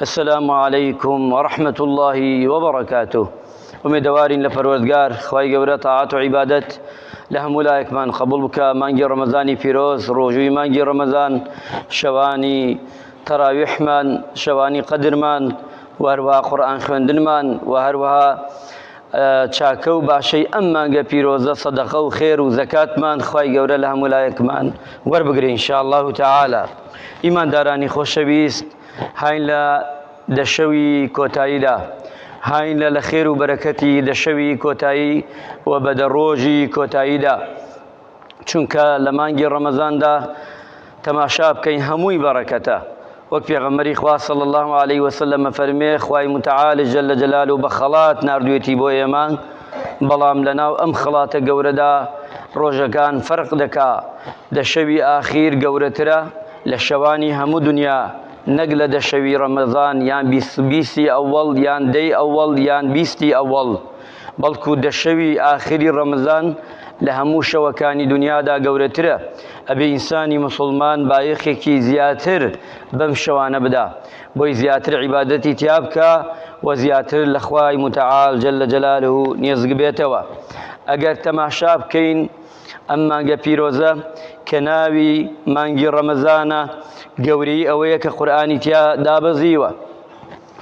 السلام علیکم ورحمة اللە وبرکاته ئومێدەوارین لە پەروەردگار خوای گەورە تاعەت و عیبادەت لە هەموو لایەکمان قبول بکە مانگی ڕەمەزانی پیرۆز ڕۆژووی مانگی ڕەمەزان شەوانی تەراویحمان شەوانی قەدرمان و هەروەها قورئان خوێندنمان و هەروەها چاکە و باشەی ئەم مانگە پیرۆزە سەدەقە و خێر و زەکاتمان خوای گەورە لە هەموو لایەکمان وەربگرێ ان شاء الله تعالی ئیماندارانی خۆشەویست هاین لە دەشەوی کۆتاییدا هاین لە لە خێر و بەرەکەتی دەشەوی کۆتایی و بەدە ڕۆژی کۆتاییدا چونکە لە مانگی ڕەمەزاندا تەماشا بکەین هەمووی بەڕەکەتە وەک پێغەمبەری خوا صلی الله علیه و سلم فەرمێ خوای متعال جل جلاله بە خەڵات ناردوێتی بۆ ئێمە بەڵام لەناو ئەم خەڵاتە گەورەدا ڕۆژەکان فەرق دەکا دە شەوی ئاخیر گەورەترە لە شەوانی هەموو دنیا نەک لە دە شەوی ڕەمەزان یان بیست بیستی ئەوەڵ یان دەی ئەوەڵ یان بیستی ئەوەڵ بەڵکو دە شەوی ئاخری ڕەمەزان لە هەموو شەوەکانی دونیادا گەورەترە، ئەبێ ئینسانی موسڵمان بایەخێکی زیاتر بەم شەوانە بدا، بۆی زیاتر عیبادەتی تیا بکا و زیاتر لە خوای متعال جل جلاله نێزگ بێتەوە. ئەگەر تەماشا بکەین ئەم مانگە پیرۆزە کە ناوی مانگی ڕەمەزانە، گەورەی ئەوەیە کە قورئانی تیا دابەزیوە،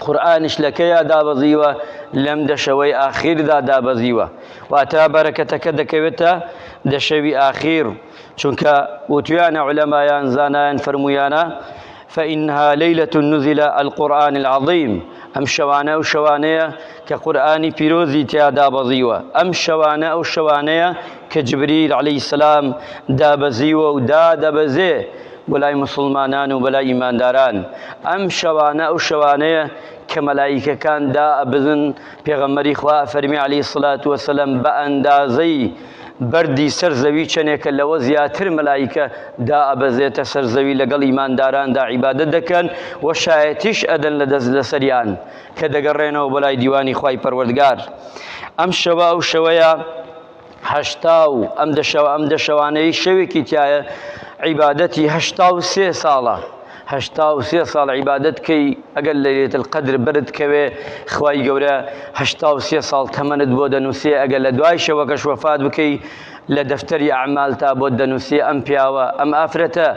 قورئانیش لە کەیا دابەزیوە؟ لەم دەشەوەی ئاخیردا دابەزیوە، واتە بەرەکەتەکە دەکەوێتە دەشەوی ئاخیر، چونکە وتویانە عولەمایان زانایان فەرموویانە، فإنها لیلە نزل القرآن العظیم، ئەم شەوانە ئەو شەوانەیە کە قورئانی پیرۆزی تیا دابەزیوە، ئەم شەوانە ئەو شەوانەیە کە جبریل علیە سلام دابەزیوە و دادەبەزێ، بۆ لای موسڵمانان و بەلای ئیمانداران ئەم شەوانە ئەو شەوانەیە کە مەلایکەکان دا ئەبزن پێغەمبەری خوا فەرمی علی سلات وسلم بە ئەندازەی بەردی سەر زەوی چەنێکە لەوە زیاتر مەلایکە دا ئەبەزێتە سەر زەوی لەگەڵ ئیمانداراندا عیبادە دەکەن و شایەتیش ئەدەن لە دەست لەسەریان کە دەگەڕێنەوە بەلای دیوانی خی پەروەردگار ئەم شەوە ئەو شەوەیە هەشتا و ئەم دەشەوە ئەم دەشەوانەی شەوێکی تایە عیبادەتی هەشتا و سێ ساڵە هەشتا و سێ ساڵ عیبادەت کەی ئەگەر لە لێت قەدر برد کەوێ خوای گەورە هەشتا و سێ ساڵ تەمەنت بۆ دەنووسێ ئەگەر لە دوای شەوەکەش وەفات بکەی لە دەفتەری ئەعمال تا بۆ دەنووسێ ئەم پیاوە ئەم ئافرەتە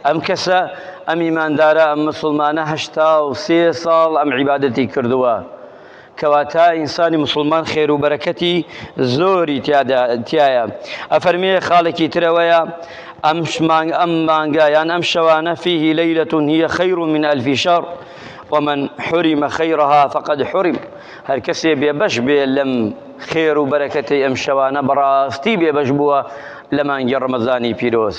ئەم کەسە ئەم ئیماندارە ئەم مسلمانە هەشتا و سێ ساڵ ئەم عیبادەتی کردووە کەواتە ئینسانی موسڵمان خێرو بەرەکەتی زۆری تیادا تیایە ئەفەرمێ خاڵێکی ترەوەیە ئەم مانگ ئەم مانگە یان ئەم شەوانە فیه لەیلە هی خیر من الف شهر ومن حرم خیرها فقد حرم هەر کەسێ بێبەش بێ لەم خێر و بەرەکەتی ئەم شەوانە بەڕاستی بێبەش بووە لە مانگی ڕەمەزانی پیرۆز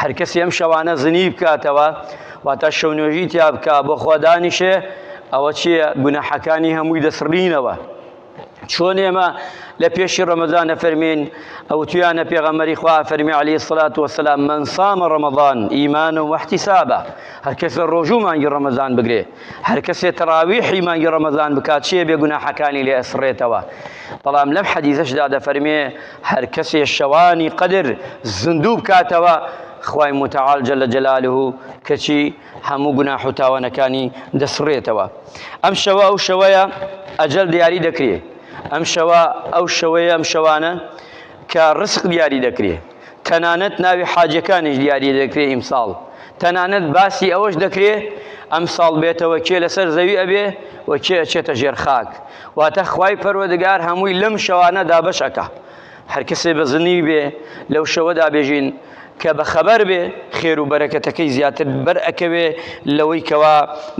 هەر کەسی ئەم شەوانە زنی بکاتەوە واتە شەو نوێژی تیا بکا بۆ خوا دانیشێ ئەوە چییە گوناحەکانی هەمووی دەسڕینەوە چۆن ئێمە لە پێشی ڕەمەزانە فەرمین ئەو تویانە پێغەمەری خوا فەرمی علی سلات وسلام من سامە ڕەمەضان ئیمان و وەحتی سابە هەر کەس لە ڕۆژوو مانگی ڕەمەزان بگرێ هەر کەسێ تەراویحی مانگی ڕەمەزان بکات چیە بێ گوناحەکانی لێ ئەسڕێتەوە بەڵام لەم حەدیزەشدا دەفەرمێ هەر کەسێ شەوانی قەدر زندوو بکاتەوە خوای متعال جل جلاله کەچی هەموو گوناح و تاوانەکانی دەسڕێتەوە ئەم شەوە ئەو شەوەیە ئەجل دیاری دەکرێ ئەم شەوە ئەو شەوەیە ئەم شەوانە کە ڕسق دیاری دەکرێ تەنانەت ناوی حاجەکانیش دیاری دەکرێ ئیمساڵ تەنانەت باسی ئەوەش دەکرێ ئەمساڵ بێتەوە کێ لەسەر زەوی ئەبێ و کێ ئەچێتە ژێر خاک واتە خوای پەروەدگار هەمووی لەم شەوانە دابەش ئەکا هەر کەسێ بەزنی بێ لەو شەوەدا بێژین کە بەخەبەر بێ خێر و بەرەکەتەکەی زیاتر بەر ئەکەوێ لەوەی کەوا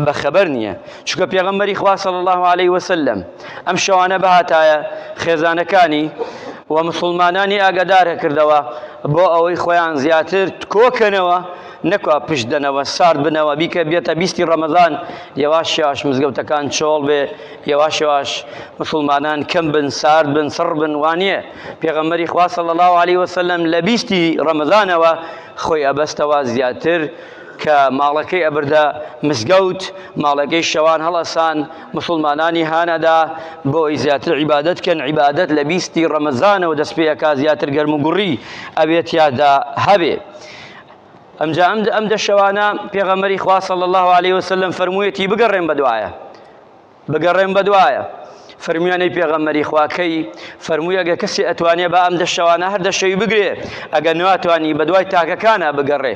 بەخەبەر نییە چکە پێغەمبەری خوا صلی الله علیه وسلم ئەم شەوانە بهاتایە خێزانەکانی و مسوڵمانانی ئاگادارهکردەوە بۆ ئەوەی خۆیان زیاتر کۆکەنەوە نەکوا پشت دەنەوە سارد بنەوە بیکە بێتە بیستی ڕەمەزان یەواش یەواش مزگەوتەکان چۆڵ بێ یەواش یەواش مسوڵمانان کەم بن سارد بن سڕ بن وانە پێغەمەری خوا صلی الله علیه وسلم لە بیستی ڕەمەزانەوە خۆی ئەبەستەوە زیاتر کە ماڵەکەی ئەبردە مزگەوت ماڵەکەی شەوان هەڵەسان موسڵمانانی هانەدا بۆ ئەوەی زیاتر عیبادەت کەن عیبادەت لە بیستی ڕەمەزانەوە دەست پێ ئەکا زیاتر گەرم و گوڕی ئەوێ تیادا هەبێ ئەمجا ئەم ئەم دە شەوانە پێغەمەری خوا صلی الله علیه وسلم فەرموویەتی بگەڕێن بەدوایە بگەڕێن بەدوایە فەرمیانەی پێغەمەری خواکەی فەرمووی ئەگە کەسی ئەتوانێ بە ئەم دە شەوانە هەر دەشەوی بگرێ ئەگە ناتوانی بەدوای تاکەکانە بگەڕێ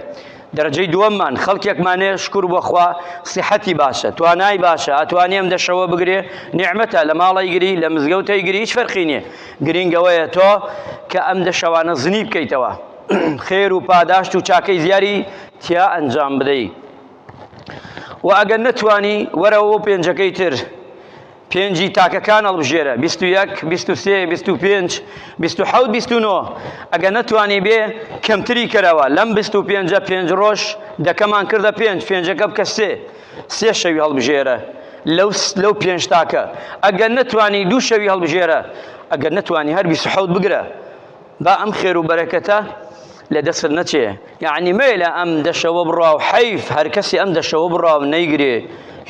دەرەجەی دووەممان خەڵکێکمانێ شکور بۆ خوا سیحەتی باشە توانای باشە ئەتوانێ ئەم دەشەوە بگرێ نیعمەتە لە ماڵی گری لە مزگەوتەی گری هیچ فەرقی نییە گرینگەوەیە تۆ کە ئەم دەشەوانە زنی بکەیتەوە خێر و پاداشت و چاکەی زیاری تیا ئەنجام بدەیت و ئەگەر نەتوانی وەرەوە پێنجەکەی تر پێنجی تاکەکان هەڵبژێرە، بیست و یەک، بیست و سێ، بیست و پێنج، بیست و حەوت، بیست و نۆ. ئەگەر نەتوانیبێ کەمتری کەرەوە، لەم بیست و پێنجە پێنج ڕۆژ دەکەمان کردە پێنج، پێنجەکە بکە سێ، سێ شەوی هەڵبژێرە لەو لەو پێنج تاکە، ئەگەر نەتوانی دوو شەوی هەڵبژێرە، ئەگەر نەتوانی هەر بیست و حەوت بگرە. با ئەم خێرو بەرەکەتە لە دەستت نەچێ یاعنی مەیە لە ئەم دەشەوە بڕاو حەیف هەر کەسی ئەم دەشەوە بڕاو نەیگرێ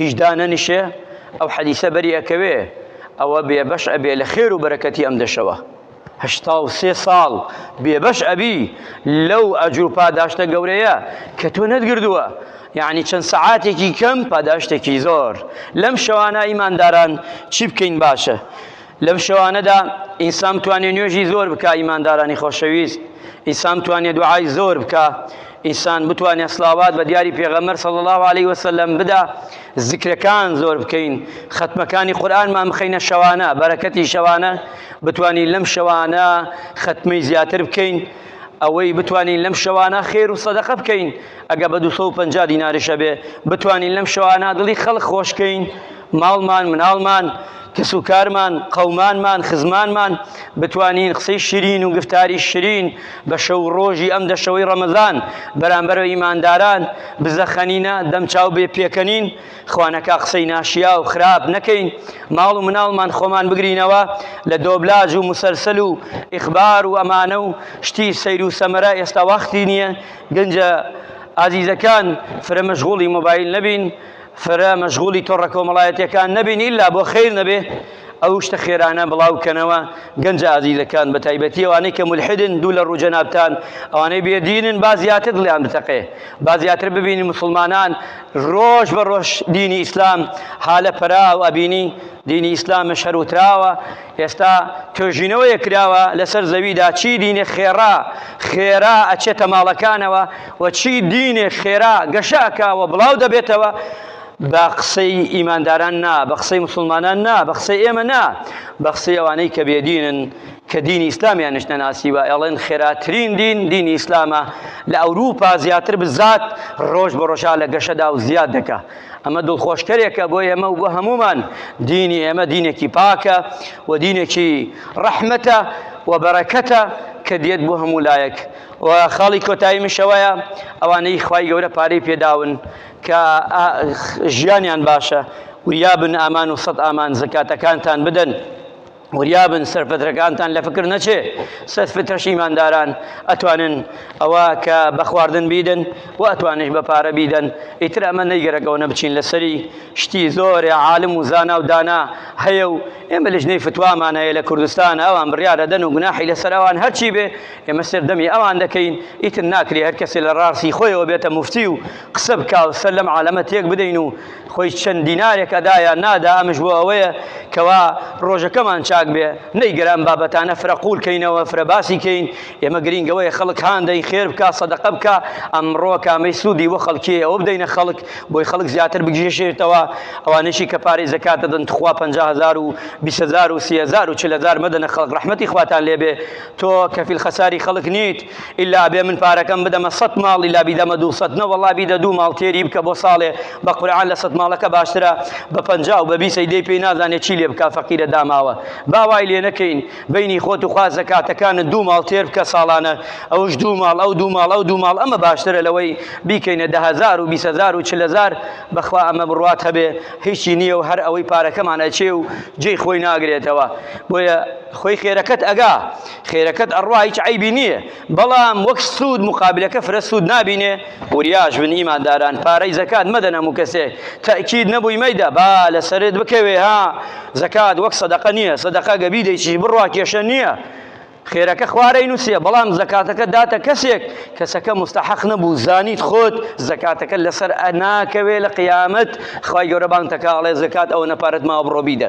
هیچ دانەنیشێ ئەو حەدیسە بەری ئەکەوێ ئەوە بێبەش ئەبێ لە خێر و بەرەکەتی ئەم دەشەوە هەشتا و سێ ساڵ بێبەش ئەبی لەو ئەجر و پاداشتە گەورەیە کە تۆ نەتگردووە یعنی چەند سەعاتێکی کەم پاداشتێکی زۆر لەم شەوانە ئیمانداران چی بکەین باشە لەم شەوانەدا ئینسان بتوانێ نوێژی زۆر بکا ئیماندارانی خۆشەویست ئینسان بتوانێ دوعای زۆر بکا ئینسان بتوانێ سلاوات بە دیاری پێغەمبەر صلی الله علیه وسلم بدا ذکرەکان زۆر بکەین ختمەکانی قورئانمان بخەینە شەوانە بەرەکەتی شەوانە بتوانین لەم شەوانە ختمی زیاتر بکەین ئەوەی بتوانین لەم شەوانە خێر و سەدەقە بکەین ئەگە بە 250 دیناریشە بێ بتوانین لەم شەوانە دڵی خەڵک خۆشکەین ماڵمان، مناڵمان، کەس و کارمان، قەومانمان، خزمانمان، بتوانین قسەی شیرین و گفتاری شیرین بە شەو و ڕۆژی ئەم دەشەوەی ڕەمەزان بەرامبەر بە ئیمانداران بزەخەنینە، دەم چاو بێ پێکەنین، خوانەکا قسەی ناشیاو، خراپ، نەکەین، ماڵ و مناڵمان خۆمان بگرینەوە لە دۆبلاج و موسەلسەل و ئیخبار و ئەمانە و شتی سەیر و سەمەرە ئێستا وەختی نییە، گەنجە ئازیزەکان فرە مەشغوڵی مۆبایل نەبین. فرە مەشغولی تۆڕە کۆمەڵایەتیەکان نەبین ئیلا بۆ خیر نەبێ ئەو شتە خێرانە بڵاو کەنەوە گەنجە ئازیزەکان بە تایبەتی ئەوانەی کە مولحیدن دوو لە ڕوو جەنابتان ئەوانەی بێدینن با زیاتر دڵیان بتەقێ با زیاتر ببینی مسلمانان ڕۆژ بە ڕۆژ دینی ئیسلام حالە پەراو ئەبینی دینی ئیسلام شەر وتراوە ئێستا توێژینەوەیە کراوە لەسەر زەویدا چی دینێ خێڕا خێرا ئەچێتە ماڵەکانەوە و چی دینێک خێرا گەشە ئەکا و بڵاو دەبێتەوە بە قسەی ئیمانداران نا بە قسەی مسلمانان نا بە قسەی ئێمە نا بە قسەی ئەوانەی کە بێدینن کە دینی ئیسلامیان نیشتە ناسی وە ئەڵێن خێراترین دین دینی ئیسلامە لە ئەوروپا زیاتر بزات ڕۆژ بە ڕۆژا لە گەشەدا و زیاد دەکە ئەمە دڵخۆشکەرێکە بۆ ئێمە و بۆ هەمومان دینی ئێمە دینێکی پاکە و دینێکی ڕەحمەتە و بەرەکەتە کە دێت بۆ هەموو لایەک و خاڵی کۆتاییمیش ئەوەیە ئەوانەی خوای گەورە پارەی پێداون کە ژیانیان باشە وریابن ئامان و سەد ئامان زکاتەکانتان بدەن وریابن سەرفەترەکانتان لە فکر نەچێ سەد فترەش ئیمانداران ئەتوانن ئەوە کە بە خواردن بیدن و ئەتوانش بە پارە بیدەن ئیتر ئەمە نەیگەرەکەەوە نەبچین لەسەری شتی زۆرێ عالم و زانا و دانا هەیە و ئێمە لژنەی فتوامان هەیە لە کوردستان ئەوان بڕیارەدەن و گوناحی لەسەر ئەوان هەرچی بێ ئێمە سەردەمی ئەوان دەکەین ئیتر ناکرێ هەر کەسێ لە ڕاستی خۆیەوە بێتە مفتی و قسە بکا و سەر لەم عالەمە تێک بدەین و خۆی چەند دینارێک ئەدایە نادا ئەمش بۆ ئەوەیە کەوا ڕۆژەکەمان چاک بێ نەیگەران بابەتانە فرە قوول کەینەوە فرە باسی کەین ئێمە گرینگەوەی خەڵک هاندەی خێر بکە سەدەقە بکە ئەمڕۆ کامەی سوودی وە خەڵکی ئەوە بدەینە خەڵک بۆی خەڵک زیاتر بگیشێتەوە ئەوانشی کە پارەی زەکات دەدەن تخوا 50000 و 20000 و 30000 و 40000 مەدەنە خەڵک ڕەحمەتی خواتان لێبێ تۆ کەفیل خەساری خەڵک نیت ئیلا ئەبێ من پارەکەم بدەمە سەد ماڵ ئیلا بیدەمە دوو سەد نە وەڵا بیدە دوو ماڵ تێری بکە بۆ ساڵێ بە قورعان لە سەد ماڵەکە باشترە بە پەنجا و بە بیست ئەیدەی پێی نازانێ چی لێ بکا فەقیرە داماوە با وای لێ نەکەین بەینی خۆت و خوا زەکاتەکانت دوو ماڵ تێر بکە ساڵانە ئەوش دوو ماڵ ئەو دوو ماڵ ئەو دوو ماڵ ئەمە باشترە لەوەی بیکەینە دە هەزار و بیست هەزار و چل هەزار بەخوا ئەمە بڕوات هەبێ هیچی نییە و هەر ئەوەی پارەکەمان ئەچێ و جێی خۆی ناگرێتەوە بۆیە خۆی خێرەکەت ئەگا خێرەکەت ئەڕوا هیچ عەیبی نییە بەڵام وەک سوود مقابلەکە فرە سوود نابینێ وریاش بن ئیمانداران پارەی زەکات مەدەن هەموو کەسێک تەئکید نەبووی مەیدە با لەسەرت بکەوێ ها زەکات وەک سەدەقە نییە سەدەقە گە بیدەیچی بڕوا کێشە نییە خێرەکە خوارەی نووسە بەڵام زەکاتەکە داتە کەسێک کەسەکە مستحق نەبوو زانیت خۆت زەکاتەکە لەسەر ئەناکەوێ لە قیامەت خی گەورەبان تەکاڵێ زکات ئەوە نەپارەت ماوە بڕۆبیدە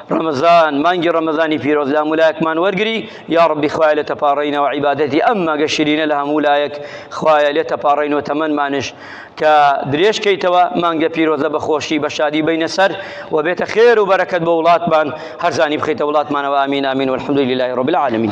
ڕەمەزان مانگی ڕەمەزانی پیرۆز لە هەموو لایەکمان وەرگری یا ڕەبی خوایە لێ تەپاڕێینەوە عیبادەتی ئەم مەگە شیرینە لە هەموو لایەک خوایە لێ تەپاڕێینەوە تەمەنمانش کە درێژ کەیتەوە مانگە پیرۆزە بە خۆشی بە شادی بینە سەر و بێتە خێر و بەرەکەت بۆ وڵاتمان هەرزانی بخیتە وڵاتمانەوە ئامین ئامین و الحمد لله رب العالمین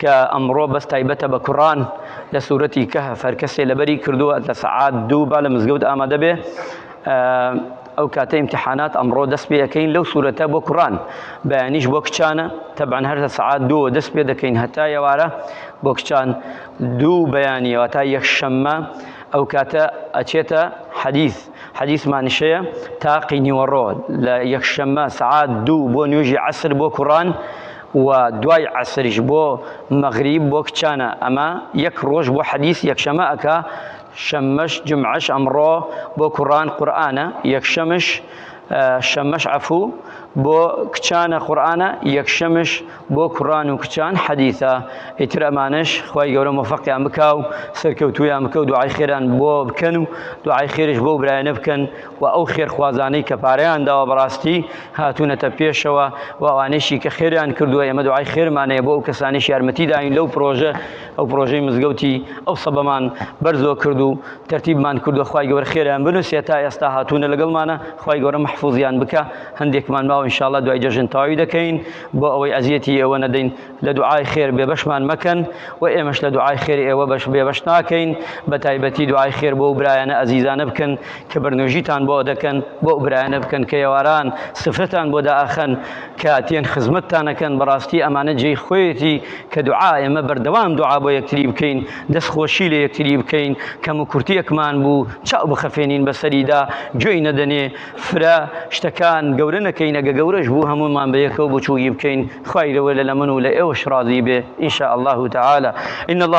کە ئەمڕۆ بەس تایبەتە بە کوڕان لە سورەتی کەهف هەر کەسێ لەبەری کردووە لە سەعات دوو با لە مزگەوت ئامادە بێ ئەو کاتە ئیمتحانات ئەمڕۆ دەست پێ یەکەین لەو سورەتە بۆ کوڕان بەیانیش بۆ کچانە تەبان هەر لە سەعات دووە دەست پێ دەکەین هەتا یەوارە بۆ کچان دوو بەیانیەوە تا یەک شەممە ئەو کاتە ئەچێتە حەدیث حەدیسمانیش هەیە تاقی نیوەڕۆ لە یەکشەممە سەعات دوو بۆ نوێژی عەسر بۆ کوڕان و دوای عەسریش بۆ مەغریب بۆ کچانە ئەمە یەک ڕۆژ بۆ حەدیس یەکشەمە ئەکا شەممەش جمعەش ئەمڕۆ بۆ کوڕان قورئانە یەکشەمش شەممەش عەفوو بۆ کچانە قورئانە یەکشەمش بۆ کوڕان و کچان حەدیثە ئیتر ئەمانەش خوای گەورە مۆفەقیان بکا و سەرکەوتوویان بکە و دوعای خێران بۆ بکەن و دوعای خێریش بۆ برایانە بکەن و ئەو خێرخوازانەی کە پارەیان داوە بەڕاستی هاتوونەتە پێشەوە و ئەوانەیشی کە خێریان کردووە ئێمە دوعای خێرمانەیە بۆ ئەو کەسانیش یارمەتی داین لەو پرۆژە ئەو پرۆژەی مزگەوتی ئەو سەبەمان بەرزۆ کرد و تەرتیبمان کردو خوای گەورە خێریان بنووسێ تا ئێستا هاتوونە لەگەڵمانە خوای گەورە محفوظیان بکە هەندێکمان ماوە ان شاء الله دوای جەژن تەواوی دەکەین بۆ ئەوەی ئەزیەتی ئێوە نەدەین لە دوعای خێر بێبەشمان مەکەن و ئێمەش لە دوعای خێری ئێوە بەش بێبەش ناکەین بە تایبەتی دوعای خێر بۆ و برایانە ئەزیزانە بکەن کە بەرنوژیتان بۆ دەکەن بۆ برایانە بکەن کە یێواران سفرەتان بۆ دائەخەن کە تێن خزمەتتانەکەن بەڕاستی ئەمانە جێی خۆیەتی کە دوعا ئێمە بەردەوام دوعا بۆ یەکتری بکەین دەست خۆشی لە یەکتری بکەین کەم و کورتیەکمان بوو چاو بخەفێنین بەسەریدا گوێی نەدەنێ فرە شتەکان گەورە نەکەین ئەگە گەورەش بوو هەموومان بەیەکەوە بچووکی بکەین خوای گەورە لە من و لە ئێوەش ڕازی بێ ان شاء اللە تعالی ان اللە